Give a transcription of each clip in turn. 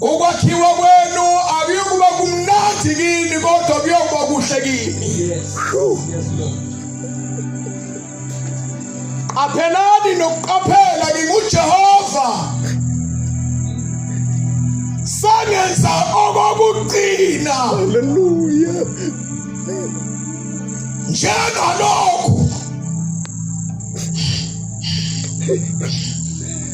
Ukwakhiwa kwenu akuyokuba kumnandi kini kodwa kuyokuba kuhle kini. Qaphelani nokuqaphela nginguJehova. Sangenza okokugcina. Hallelujah. Njengalokhu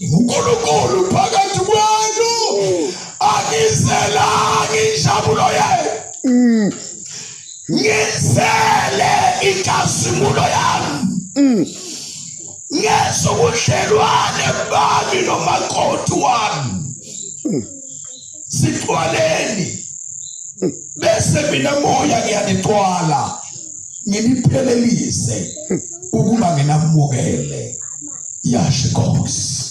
uNkulunkulu phakathi kwenu angizelanga injabulo yenu mm. ngizele inkazimulo yami mm. ngezo budlelwane bami nomakoti wami mm. sixwaleni bese mina moya ngiyanixwala nginiphelelise ukuba nginamukele yasho inkosi